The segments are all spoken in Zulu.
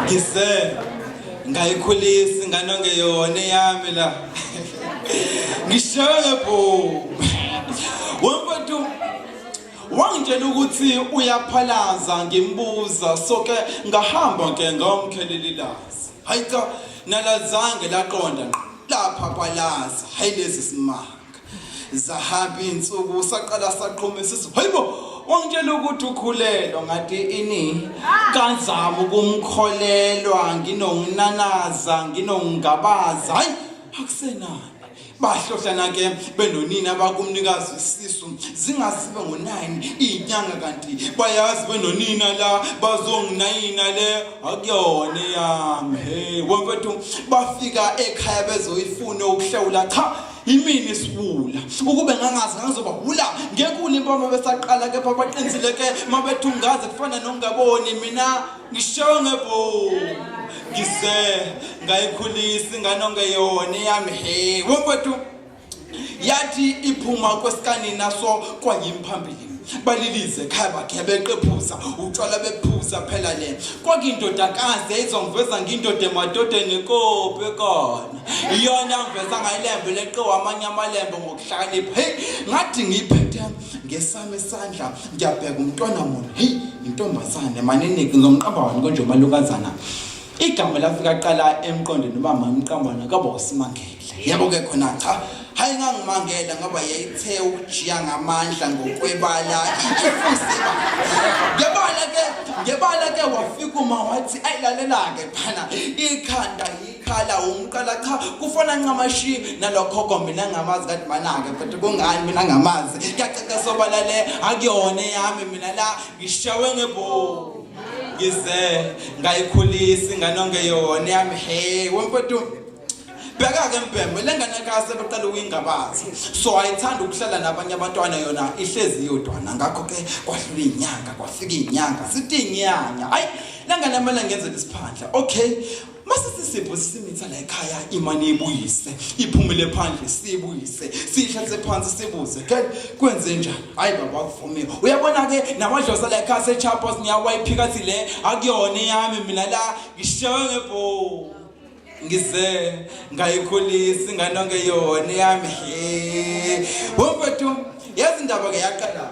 ngise ngayikhulisa ingane ongeyona eyami la ngishawe ngebhomu wemfethu wangitshela ukuthi uyaphalaza ngimbuza soke ngahamba ke ngomkhelelelazi hayi cha nalazange laqonda lapha kwalaza hayi lezi simanga zahamba insuku saqala saqhuma isisu hayibo wangitshela ukuthi ukhulelwa ngathi ini kazama ukumkholelwa nginonginanaza nginongingabaza hayi akusenani bahlohlana ke benonina bakumnikazi isisu zingasibe ngo-9 iyinyanga kanti bayazi benonina la bazonginayina le akuyona eyami he wemfethu bafika ekhaya bezoyifune ukuhlawula cha yimini isiwula ukube ngangazi ngangizoba wula ngekule impama besaqala kepha baqinisile ke mabethungaze kufana nokungaboni mina ngishewe ngebhomu ngise ngayikhulisa ingane ongeyona eyami he wemfethu yathi iphuma kwesikanina so kwangimphambili balilize ekhaya bakhe beqephuza utshwala bephuza phela le kwakuyindodakazi yayizongiveza ngiyindoda emadodeni kope kona iyona ngiveza ngayilembe leqiwa amanye amalembe ngokuhlakanipha heyi ngathi ngiyiphethe ngesami isandla ngiyabheka umntwana mona heyi intombazane manini ngizomqamba wani konje umalukazana igama lafika qala emqondweni uba mamqambana kaba usimangele yebo ke khona cha hayi ngangimangela ngoba yayithe ukujiya ngamandla ngokwebala ifusiba ngebala ke ngebala ke wafika uma wathi ayilalelake phana ikhanda khala umqala cha kufona ncamashi nalokhokho mina ngamazi kade manake but kungani mina ngamazi kuyacaca sobala le akuyona yami mina la ngishawe ngebo ngize ngayikhulisa ingane ongeyona yami he wemfethu bheka-ke mbhembe le ngane kase beqala ukuyingabaza so ayithanda ukuhlala nabanye abantwana yona ihlezi yodwana ngakho-ke kwahlula iy'nyanga kwafika iy'nyanga sithi inyanya hayi le ngane amele ngenzela isiphandla okay masithi isifo simitha la ekhaya imani ibuyise iphumele phandle sibuyise sihlathe phansi sibuze ke kwenze njani hayi baba kuvumile uyabona ke namadlosa la ekhaya sechapos ngiyawayiphika thi le akuyona yami mina la ngishawe ngebho ngize ngayikhulisa ingane onke yona yami he womfethu yazi indaba ke yaqala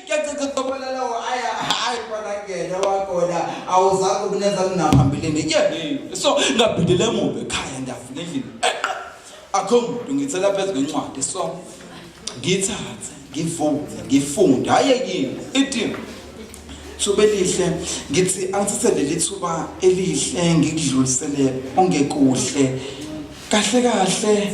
kuyacicicobelelawo aya hayi kwanakena wakona awuzange ukunenza kunaphambilini ye so ngabhidele emuva ekhaya ndiyafuna endlini eqa akho muntu ngithela phezu kwencwadi so ngithathe ngivuze ngifunde hhayi yini itini thuba elihle ngithi angithathe leli thuba elihle ngikudlulisele ongekuhle kahle kahle